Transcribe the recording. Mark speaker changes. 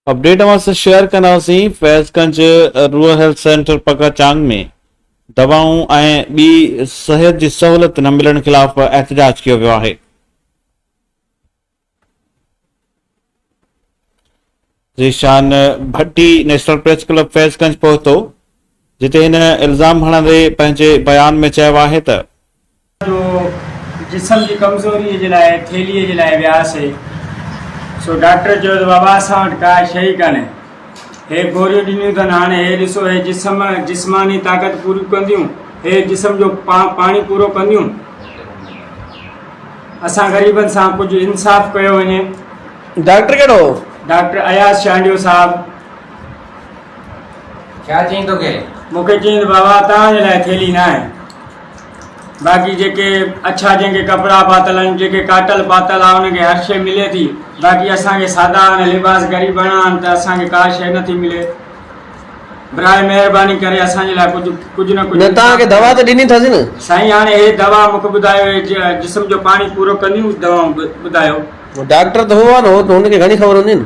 Speaker 1: Update اوهان سان share ڪنداسين Faiz Ganj rural health centre پڪا چانگ ۾ دوائون ۽ ٻي صحت جي سهولت نه ملڻ خلاف احتجاج ڪيو ويو آهي Zeeshan Bhatti national press club Faiz Ganj پهتو جتي هن الزام هڻندي پنهنجي بيان ۾ چيو آهي ته جو
Speaker 2: جسم جي ڪمزوريء جي لاء ٿيلهيء جي لاء وياسي، سو ڊاڪٽر چيو ته بابا اسان وٽ ڪا شيء ئي ڪانهي. هي گوريون ڏنيون اٿن، هاڻي هي ڏسو، هي جسم جسماني طاقت پوريون ڪنديون، هي جسم جو پاڻي پورو ڪنديون. اسان غريبن سان ڪجهه انصاف ڪيو وڃي. ڊاڪٽر
Speaker 3: ڪهڙو هو؟ ڊاڪٽر اياز
Speaker 2: شانڊيو صاحب. ڇا
Speaker 4: چيائين توکي؟ مون کي چيائين ته بابا
Speaker 2: توهان جي لاء ٿيلهي ناهي. باقي جيڪي اڇا جنهن کي ڪپڙا پاتل آهن جيڪي ڪاٽل پاتل آهي ان کي هر شيء ملي ٿي باقي اسان کي سادا آهن لباس غريباڻا آهن ته اسان کي ڪا شيء نٿي ملي براء مهرباني ڪري اسان جي لاء ڪجهه ڪجهه نه ڪجهه نه توهان کي دوا ته ڏني
Speaker 3: ٿاسين سائين هاڻي هي دوا
Speaker 2: مونکي ٻڌايو هي جسم جو پاڻي پورو ڪنديون دوائون ٻڌايو. ڊاڪٽر ته هو
Speaker 3: آهي نه هو ته هن کي گهڻي خبر هوندي نه.